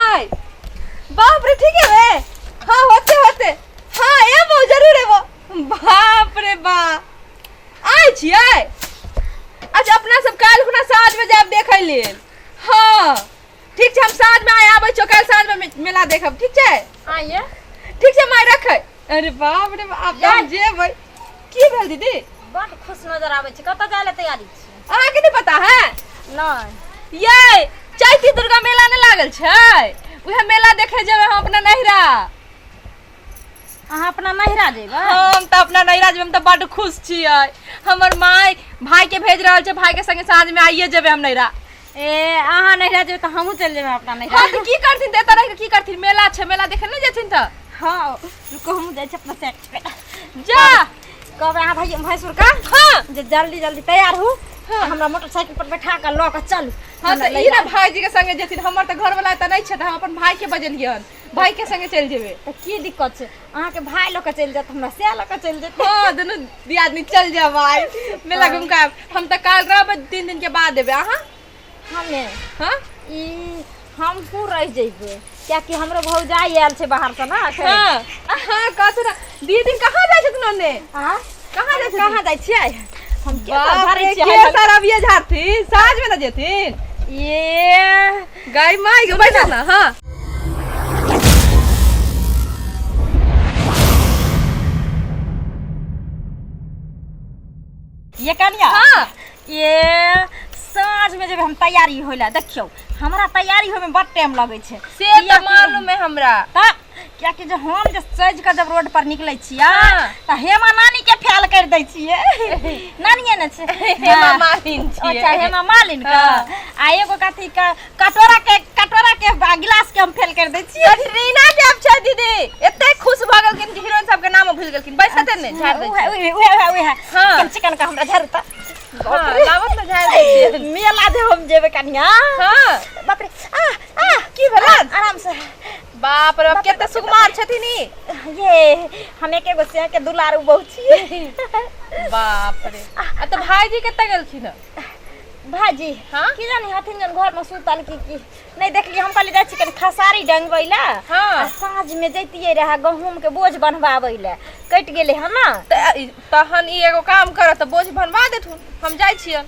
हाय बाप रे ठीक है रे हाँ होते होते हाँ ये वो जरूर है वो बाप रे बा आय छी आय अच्छा अपना सब काल खुना साँझ में जाब देख लिए हाँ ठीक छै हम साँझ में आय आबै छौ काल साँझ में मे- मेला देखब ठीक छै आइए ठीक छै माय रखै अरे बाप रे बाप आब हम जेबै की भेल दीदी बड खुश नजर आबै छै कतऽ जाय ले तैयारी छी अहाँके नहि पता है नहि ये चैती दुर्गा मेला नहि लागल छै उहे मेला देखे जेबै हम अपना नैहरा अहाँ अपना नैहरा जेबै हम तऽ अपना नैहरा जेबै हम तऽ बड खुश छियै हमर माय भाय के भेज रहल छै भाय के संगे साँझ में आइए जेबै हम नैहरा ए अहाँ नैहरा जेबै तऽ हमहूँ चलि जेबै अपना नैहरा हँ तऽ की करथिन तऽ एतऽ रहि कऽ की करथिन मेला छै मेला देखै नहि जेथिन तऽ हँ रुको हमहूँ जाइ छी अपना सेट पे जा कहबै अहाँ भाई भैंसुर का हँ जे जल्दी जल्दी तैयार हू हँ। हमरा मोटरसाइकिल पर बैठा कऽ लऽ कऽ चलू हँ हमरा तऽ ई लैया। ने भाईजी के संगे जेथिन हमर तऽ घरवाला एतऽ नहि छै तऽ हम अपन भाई के बजेलियन भाय के संगे चलि जेबै तऽ की दिक्कत छै अहाँके भाय लऽ कऽ चलि जायत हमरा सएह लऽ कऽ चलि जायत हँ दुनू दियादनी चलि जायब भाय मेला घुमि कऽ हम तऽ काल्हि रहबै तीन दिनके बाद एबै अहाँ हमे हँ ई हम कू रहि जेबै कियाकि हमरो भौजाइ आयल छै बाहर से ना एखन। हँ हँ कहथु ने दीदी कहाँ जाइ छथिन ओन्ने आ कहाँ जाइ छथिन कहाँ जाइ छियै हम के बाप झाड़ै रे, छियै के सर अभिये झाड़थिन साँझ में ने जेथिन ये गाय माय के बैठा ना हां ये कनिया हां ये साँझ में जब हम तैयारी होइला देखियो हमरा तैयारी होय में बड़ टाइम लगे छै से त मालूम है हमरा त कियाकि जे हम जे सजि कऽ जब रोड पर निकलै छियै हाँ। तऽ हेमा नानी के फैल कर दै छियै नानिये ने छै हेमा मालिन छियै। अच्छा हेमा मालिन के हाँ। आ एगो कथी के कटोरा के कटोरा के आ गिलास के हम फैल कर दै छियै कटरीना कैफ छै दीदी एते खुश भऽ गेलखिन कि हीरोइन सबके नाम भूल गेलखिन बैसते ने झाड़ दै उहे उहे उहे उहे उहे हाँ। कम चिकन का हमरा झाड़ू तऽ हाँ, लाबत ने झाड़ दै छियै। मेला जे हम जेबै कनिया हाँ बाप रे आ आ की भेलन आराम से बाप रे बाप, केते सुकुमार छथिन ई ये हम एके गो से के दुलार उ बहुत छी बाप रे आ तो भाईजी कतऽ गेलखिन हँ? भाजी हाँ? की जानी हथिन जन घर में सुतल की की नहीं देखली हम कहली जाइ छी कनी खसारी डंगबै ला हाँ। आ साँझ में जैतिए रहा गहूम के बोझ बनवाबै ला कटि गेले हन ना तऽ ई- तहन ई एगो काम करत तऽ बोझ बनवा देथुन हम जाइ छियन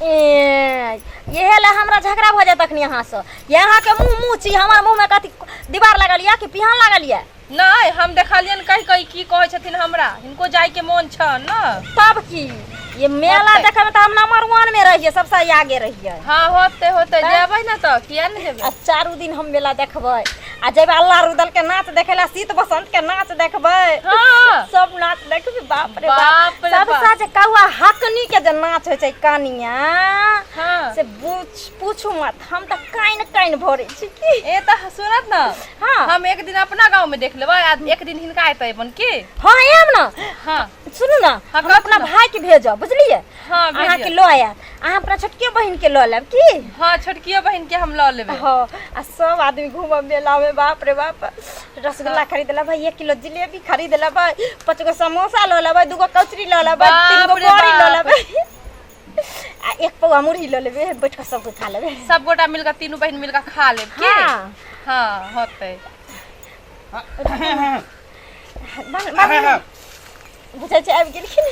ए, इहे ला हमरा झगड़ा भऽ जायत अखनी अहाँ से ये अहाँ के मुंह मुंह छी हमर मुंह में कथी दीवार लागल ये कि पिहान लागल ये नहि हम देखलियन कहि कहि की कहै छथिन हमरा हिनको जाइके मोन छन ने तब की ये मेला होतै। देखे में तो हम नंबर वन में रहिए सबसे आगे रहिए हाँ होते होते जेबै ने तऽ किया ने जेबै आ चारू दिन हम मेला देखबै आ जब अल्लाह रुदल के नाच देखे ला शीत बसंत के नाच देखबै हाँ। सब नाच देखबै बाप रे बाप रे बाप। सबसे जे कौआ हकनी के जे नाच होइ छै कानिया हाँ। से पूछ पूछू मत हम तऽ काइन काइन भरै छी की ए त सुनत न हाँ। हम एक दिन अपना गांव में देख लेबै आ एक दिन हिनका एतै बन की हाँ आयब ने हाँ सुनू ने हाँ, हम कथी अपना ने? भाई के भेजब बुझलियै हाँ अहाँ के लो आयब अहाँ अपना छोटकी बहन के लो लेब की हाँ छोटकी बहन के हम लो लेब हाँ आ सब आदमी घूम मेला में बाप रे बाप रसगुल्ला हाँ। खरीद लेब एक किलो जिलेबी खरीद लेब पाँच गो समोसा लो लेब दू गो कचरी लो लेब तीन गो बड़ी लो लेब आ एक पौआ मुरही लो लेबे बैठ के सब खा लेबे सब गोटा मिलकर तीनों बहन मिलकर खा लेब हाँ हाँ होते हाँ। बुझै छै आबि गेलखिन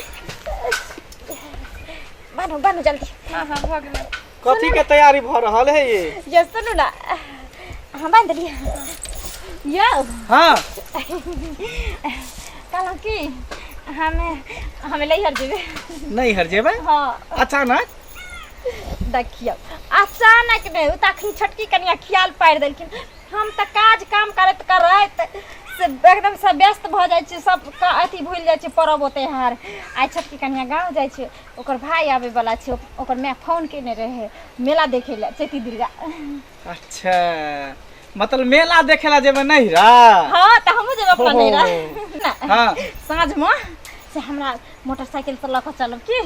बानू बानू जल्दी हाँ हाँ भऽ गेलै कथी के तैयारी भऽ रहल है ये ये सुनू ना हम बांध देलियै यौ हाँ कहलहुँ कि हमे हमे लैहर जेबै नहीं हर जेबै हाँ अचानक देखियौ अचानक नहि ओ तऽ अखन छोटकी कनिया खियाल पारि देलखिन हम तऽ काज काम करैत करैत से एकदम से व्यस्त भऽ जाइ छी सब का- अथी भूलि जाइ छी परब त्योहार आइ छोटकी कनिया गाँव जाइ छै ओकर भाय आबै बला छै ओक- ओकर माय फोन केने रहै मेला देखै लए चैती दुर्गा अच्छा मतलब मेला देखे ला जेबै नहीं रा हँ तऽ हमहूँ जेबै अपना हो। नैहरा ना, हाँ साँझमे से हमरा मोटरसाइकिल पर लऽ कऽ चलब की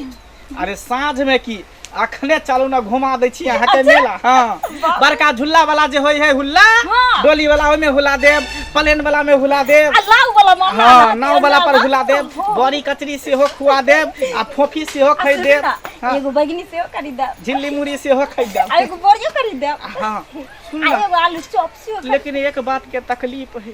अरे साँझ में की अखने चलू ने घुमा दै छी अहाँके अच्छा। मेला हँ बड़का झूला वाला जे होइ है हुल्ला हँ। डोली वाला ओहिमे हुला देब प्लेन वाला में हुला देब आ नाव वाला मामा हँ अहाँके नाव वाला पर नाव हुला वाला। देब हँ। बड़ी कचरी सेहो खुआ देब आ फोफी सेहो आ खरीद सुनू देब ना, हँ, एगो बैगनी सेहो खरीद देब झिल्ली मुड़ी सेहो खरीद आ देब एगो बोरियो खरीद देब हँ सुन आ ना, एगो आलू चॉप सेहो खरीद लेकिन एक बात के तकलीफ है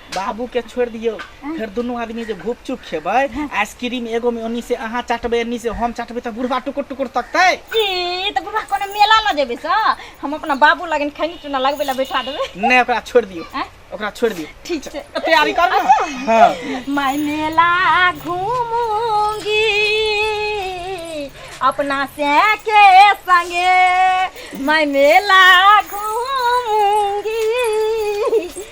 बाबू के छोड़ दियो फिर दोनों आदमी जो घुप चुप खेबे आइसक्रीम एगो में ओनी से अहाँ चाटबे एनी से हम चाटबे तो बुढ़वा टुकुर टुकुर तकते ई त बुढ़वा कोनो मेला ल जेबे स हम अपना बाबू लगन खैनी चुना लगबे ला बैठा देबे नहीं ओकरा छोड़ दियो आँय? ओकरा छोड़ दियो ठीक छै तैयारी कर ना हाँ मैं मेला घूमूंगी अपना से के संगे मैं मेला घूमूंगी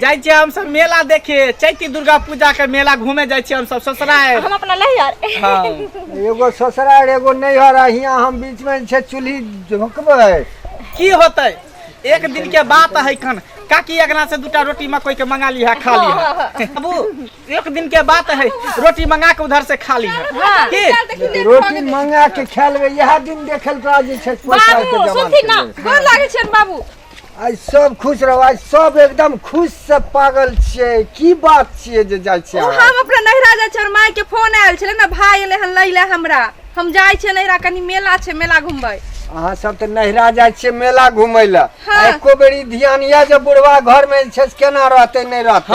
जाइ छियै हम सब मेला देखे चैती दुर्गा पूजा के मेला घूमे जाइ छियै हम सब ससुराल हम अपना ले यार हाँ एगो ससुराल एगो नैहर आ हियाँ हम बीच में छै चूल्ही झोंकबै की होतै एक दिन के बात है कन काकी अगना से दूटा रोटी मकई के मंगा लिहा खा लिहा बाबू एक दिन के बात है रोटी मंगा के उधर से खा लिहा हाँ। की रोटी मंगा के खा लेबै इएह दिन देखल तोरा जे छै पैसा के बाबू जमा सुनथिन ना गोर लागै छियन बाबू आइ सब खुश रहो आइ सब एकदम खुश से पागल छिए की बात छिए जे जाय छिए हम अपना नहिरा जाय छिए माय के फोन आयल छले ना भाई एले हन लैले हमरा हम जाय छिए नहिरा कनी मेला छे मेला घुमबै अहाँ सब तऽ नहिरा जाय छिए मेला घुमै लए हाँ। एको बेरी ध्यान या जे बुढ़वा घर में छै केना रहते नहीं रहते